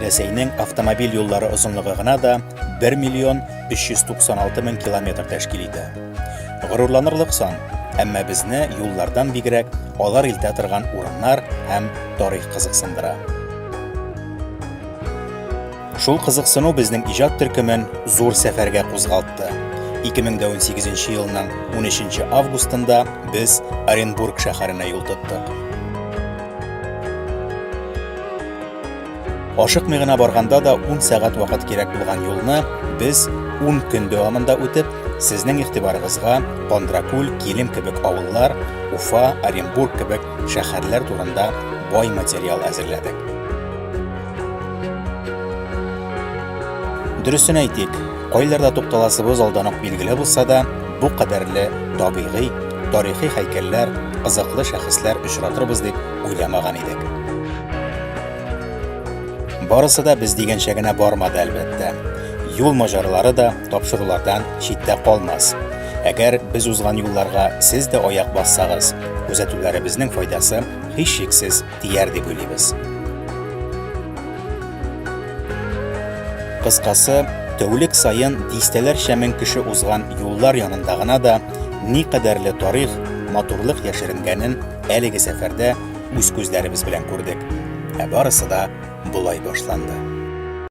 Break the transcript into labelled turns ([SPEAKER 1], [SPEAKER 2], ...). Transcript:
[SPEAKER 1] Рәсәйнең автомобиль юллары озынлыгы гына да 1 миллион 396 мең километр тәшкил итә. Горурланырлык сан, әмма безне юллардан бигрәк алар илтә торган урыннар һәм тарих кызыксындыра. Шул кызыксыну безнең иҗат төркемен зур сәфәргә кузгалтты. 2018 елның 13 августында без Оренбург шәһәренә юл тоттык. Ашыкмый гына барганда да 10 сәгать вакыт кирәк булган юлны без 10 көн дәвамында үтеп, сезнең игътибарыгызга Кондракүл, Килем кебек авыллар, Уфа, Оренбург кебек шәһәрләр турында бай материал әзерләдек. Дөресен әйтик, кайларда тукталасыбыз алдан ук билгеле булса да, бу кадәрле табигый, тарихи һәйкәлләр, кызыклы шәхесләр очратырбыз дип уйламаган идек. Барысы да без дигәнчә генә бармады, әлбәттә. Юл маҗаралары да тапшырулардан читтә калмас. Әгәр без узган юлларга сез дә аяк бассагыз, күзәтүләребезнең файдасы һичшиксез тияр дип уйлыйбыз. Кыскасы, тәүлек саен дистәләрчә мең кеше узган юллар янында гына да никадәрле тарих, матурлык яшеренгәнен әлеге сәфәрдә үз күзләребез белән күрдек. Ә барысы да болай башланды.